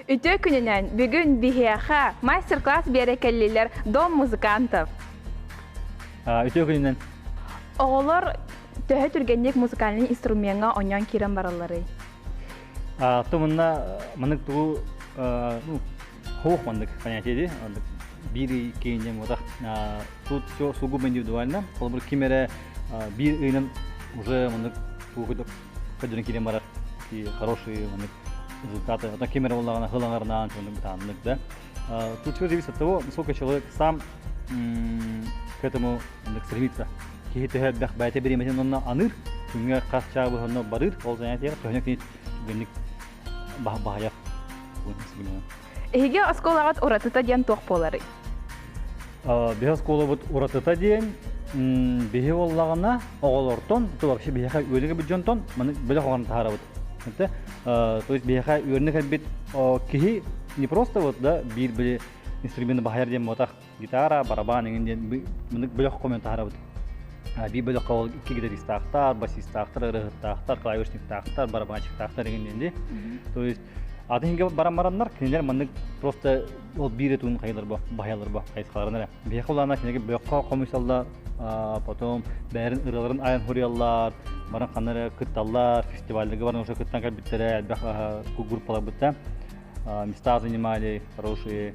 Үтүө күнүнэн бүгүн биһиэхэ мастер-класс биэрэ кэллилэр Дом музыкантов. Үтүө күнүнэн. Оҕолор төһө түргэнник музыкальный инструмеҥҥа онньон киирэн баралларый? Тумунна мынык тугу хуох маннык понятие ди биир киинде мутах тут все сугубо индивидуально холобур ким эрэ биир ыйынан уже мынык көрдөрөн киирэн барар хорошие результаты. Оттон Кемера буоллаҕына ылаҥарнаан чугунук бытааннык да. Тут все зависит от того, сколько человек сам к этому стремится. Киһи төһө элбэх бэйэтэ бириэмэтин онно аныыр, күҥҥэ хас чаабы онно барыыр, ол занятие төһөнө кинит генник баһайах Эһиги оскуолаҕыт уратыта диэн туох буоларый? Биһи оскуолабыт уратыта диэн биһи боллаҕына оҕолортон то вообще биһиэхэ үөлүгэ бүддьонтон маны бөлөх оҕаны таһаарабыт то есть биһиэхэ үөрэнэ кэлбит киһи не просто вот да биир били инструменты баһыйар диэн буотах гитара, барабан эҥин диэн мындык бөлөх хомуйан таһаарабыт. Биир бөлөххө ол икки гитаристаахтар, басистаахтар, ырыаһыттаахтар, клавишниктаахтар, барабанчиктаахтар эҥин диэн дии. То есть атын иһингэ баран бараннар кинилэр маннык просто ол биир этуун хайаларбо баһыйаларбо хайысхаларын эрэ. Биһиэхэ улаана кинигэ бөлөххө хомуйсалла, потом бээрин ырыаларын айан хуриаллар, баран ханна эрэ кытталлар, фестивальга баран уже кыттан кэлбиттэрэ, элбэх группаларбыттан места занимали хорошие.